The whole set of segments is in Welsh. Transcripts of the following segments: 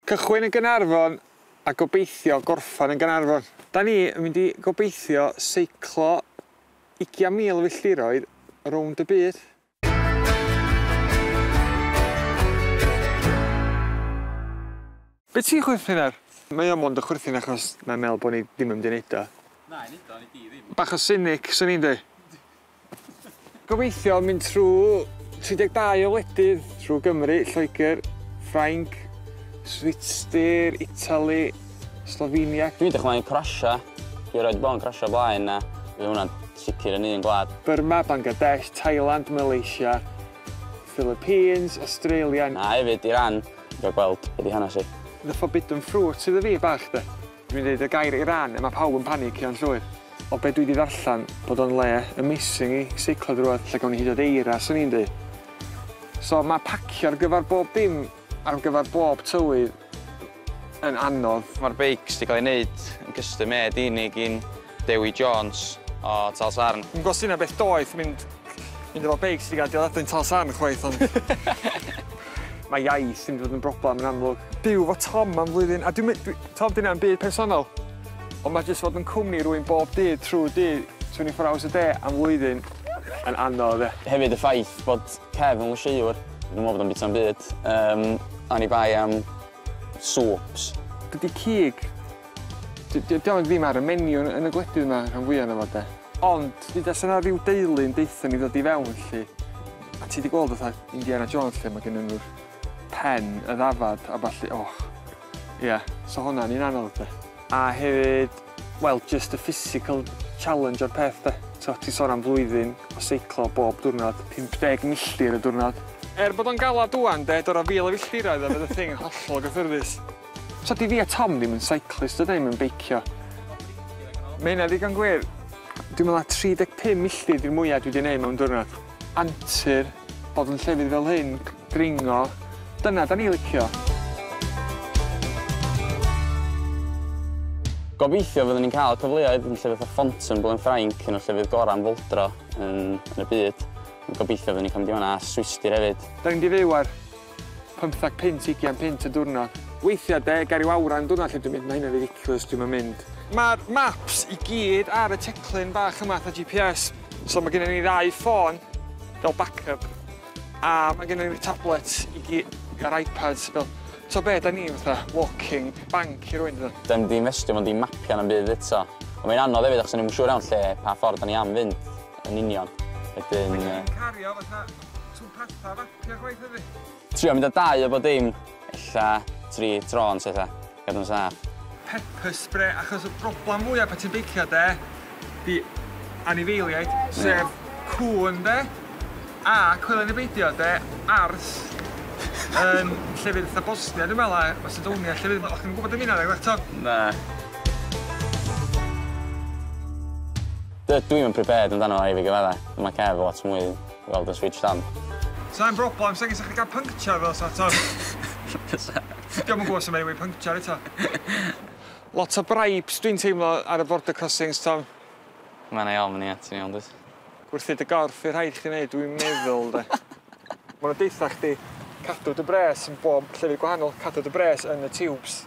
Cychwyn yn Gaernarfon a gobeithio gorffen yn Gaernarfon. Da ni yn mynd i gobeithio seiclo ugian mil o filltiroedd rownd y byd. Be ti'n chwerthin ar? Mae o mond yn chwerthin achos mae'n meddwl bod ni ddim yn mynd i wneud o. Na, i wneud o, neu di ddim. Bach o cynic, swn i'n dweud. Gobeithio mynd trwy 32 o wledydd trwy Gymru, Lloegr, Ffrainc, Switster, Italy, Slovenia. Dwi'n dychmygu Croatia, dwi erioed 'di bod yn Croatia o blaen a fydd hwnna'n sicr yn un gwlad. Burma, Bangladesh, Thailand, Malaysia, Philippines, Australia. A hefyd Iran, dwi isio gweld be 'di hanes hi. The Forbidden Fruit iddo fi bach 'de. Dwi'n deud y gair Iran a mae pawb yn panicio'n llwyr. O be dwi 'di ddarllen, bod o'n le amazing i seiclo drwodd, lle gawn ni hyd yn oed eira, swn i'n deud. So mae pacio ar gyfer bob dim, ar gyfer bob tywydd yn anodd. Mae'r beics 'di cael eu wneud yn custom made i ni gin Dewi Jones o Talsarn. Yn gweld syna beth doeth mynd mynd efo beic sy'n gael dioddefyn Talsarn chwaith ond... Mae iaith yn mynd i fod yn broblem yn amlwg. Byw efo Tom am flwyddyn a dwi'm yn dwi... T'od dyna ddim byd personol ond mae jyst fod yn cwmni rywun bob dydd trwy'r dydd twenty four hours a day am flwyddyn yn anodd ie. Hefyd y ffaith bod Kev yn lysieuwr dwi'm yn meddwl bod o'n bwyta'n byd yym oni bai am swps. Dydi cig Dydy o ddim ar y menu yn yn y gwledydd 'ma rhan fwya o'no fo 'de? Ond hyd as o' 'na ryw deulu yn deutho ni ddod i fewn 'lly a ti 'di gweld fatha Indiana Jones lle ma' gynnyn nw'r pen, y ddafad a ballu och. Ia, so honna'n un anodd 'de. A hefyd, wel jyst y physical challenge o'r peth 'de? T'o' ti'n sôn am flwyddyn o seiclo bob diwrnod, 50 milltir y diwrnod. Er bod o'n galad ŵan 'de, dod â fil o filltiroedd oedd y thing yn hollol gyffyrddus. So di fi a Tom ddim yn cyclist a da ni'm yn beicio. Mae hynna ddigon gwir. Dwi'n meddwl na 35 milltir di'r mwya dwi di neud mewn diwrnod. Antur, bod yn llefydd fel hyn, dringo, dyna da ni licio. Gobeithio fyddwn ni'n cael cyfleoedd yn llefydd fatha Fontainebleau yn Ffrainc, un o'r llefydd gorau am foldro yn, yn y byd. Gobeithio fyddwn ni'n cael mynd i fanna a Swistir hefyd. Da ni'n mynd i fyw ar Pymtheg punt, ugian punt y diwrnod. Weithiau de, ger ryw awran y diwrnod lle dwi'n mynd, mae hynna'n ridiculous, dwi'm yn mynd. Mae'r maps i gyd ar y teclyn bach yma fatha GPS, so mae gennym ni ddau ffôn fel backup, a mae gennym ni'r tablets i gyd, a'r iPads fel, t'o' be', 'dan ni fatha walking bank i rywun dydan? Dio'm 'di infestio mewn dim mapio na'm byd eto. Ond mae'n anodd hefyd achos o'n i'm yn siŵr iawn lle, pa ffordd 'dan ni am fynd yn union, wedyn yy... Dwi'n cario fatha... Ti'n patha fapio gwaith hefyd? Trio mynd â dau o bob dim, ella tri tro yn syth a gadw nhw'n saff. Pepper spray, achos y broblem mwya pan ti'n beicio de, 'di anifeiliaid, sef cŵn de, a coelio neu beidio de, ars yn llefydd fatha Bosnia dwi'n meddwl, a Macedonia, llefydd o'ch chi'n gwybod am hynna nag o'ch to? Na. Dydw i'm yn prepared amdano fo i fi gyfadda, ond mae Kev lot mwy Weld yn switshed on. Sai'n broblem, sengyn sa'ch chi gael pynctiau fel sa to. Diolch yn gwybod sy'n mynd i pynctiau eto. Lot o bribes dwi'n teimlo ar y border crossings, Tom. Mae'n ei ofn, ie, ti'n iawn dwyt. Gwerthu dy gorff i'r rhaid chdi wneud, dwi'n meddwl, de. Mae nhw'n deitha chdi, cadw dy bres yn bob llefydd gwahanol, cadw dy bres yn y tiwbs.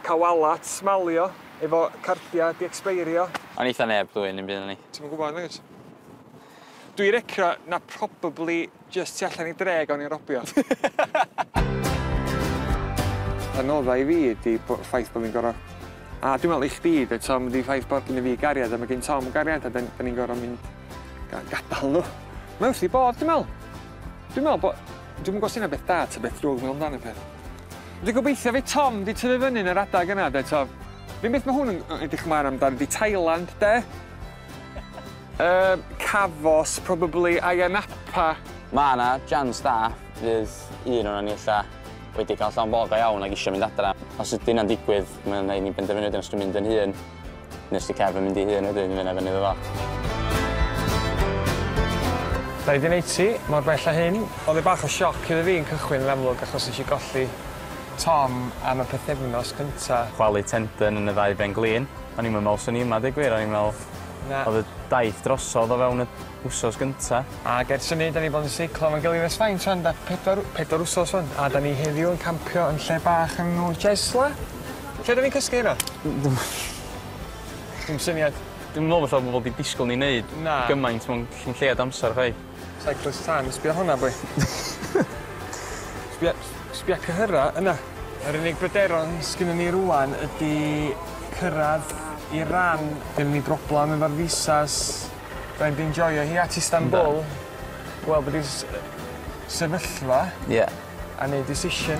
Cael walat, smalio, efo cardiau di-expeirio. O'n eitha neb dwy'n un byd o'n i. Ti'm yn gwybod, nagwyt? Dwi recro na probably jyst tu allan i dre gawn ni robio. Anodda i fi ydi bo- ffaith bo' fi'n gor'o'... A dwi me'wl i chdi 'fyd Tom ydi ffaith bod gynno fi gariad a ma' gin Tom gariad a 'dyn 'dyn ni'n gor'o' mynd ga- gadal n'w. Mae wrth 'i bodd dwi me'wl. Dwi'n me'wl bo'... Dwi'm yn gw'o' os 'di hynna'n beth da ta beth drwg me'wl amdan y peth. Dwi gobeithio fydd Tom 'di tyfu fyny yn yr adag yna 'de Tom? Yr un beth ma' hwn yn yy edrych ymlaen amdan ydi Thailand 'de? Yy, Cafos, probably Ayia Napa. Mae 'na jans da fydd un ohonon ni ella wedi cael llond bol go iawn ac eisiau mynd adra. Os ydy hynna'n digwydd, mae'n rhaid i ni benderfynu wedyn os dwi'n mynd yn hŷn neu os 'di Kev yn mynd ei hun wedyn, mae hynna i fyny iddo fo. Dau ddyn eighty, mor bell â hyn. Oedd e bach o sioc iddo fi yn cychwyn yn amlwg achos nes i golli Tom am y pythefnos cynta. Chwalu tendon yn y ddau ben glin. O'n i'm yn me'wl swn i yma deu gwir o'n i'n me'wl Na. Odd y daith drosodd o fewn y wsos gynta. Ag ers hynny 'dan ni bod yn seiclo efo'n gilydd ers faint rwan 'da? Pedwar pedwar wsos wan. A 'dan ni heddiw yn campio yn lle bach yn enw Jesla. Lle 'dan ni'n cysgu heno? Dw'm yn siŵr. Dim syniad. Dwi'm yn me'wl falla bo' bobol 'di disgwl ni neud... Na. ...gymaint mewn cyn lleiad amsar chwaith. Cyclist tân, sbia hwnna boi. Sbia sbia cyhyra yna. Yr unig bryderon sgynnon ni rŵan ydi cyrradd Iran. Gynnon ni broblam efo'r visas. Rhaid fi enjoio hi at Istanbul. Yndan. Gwel' be' 'di s- yy sefyllfa. Ie. A neud decision.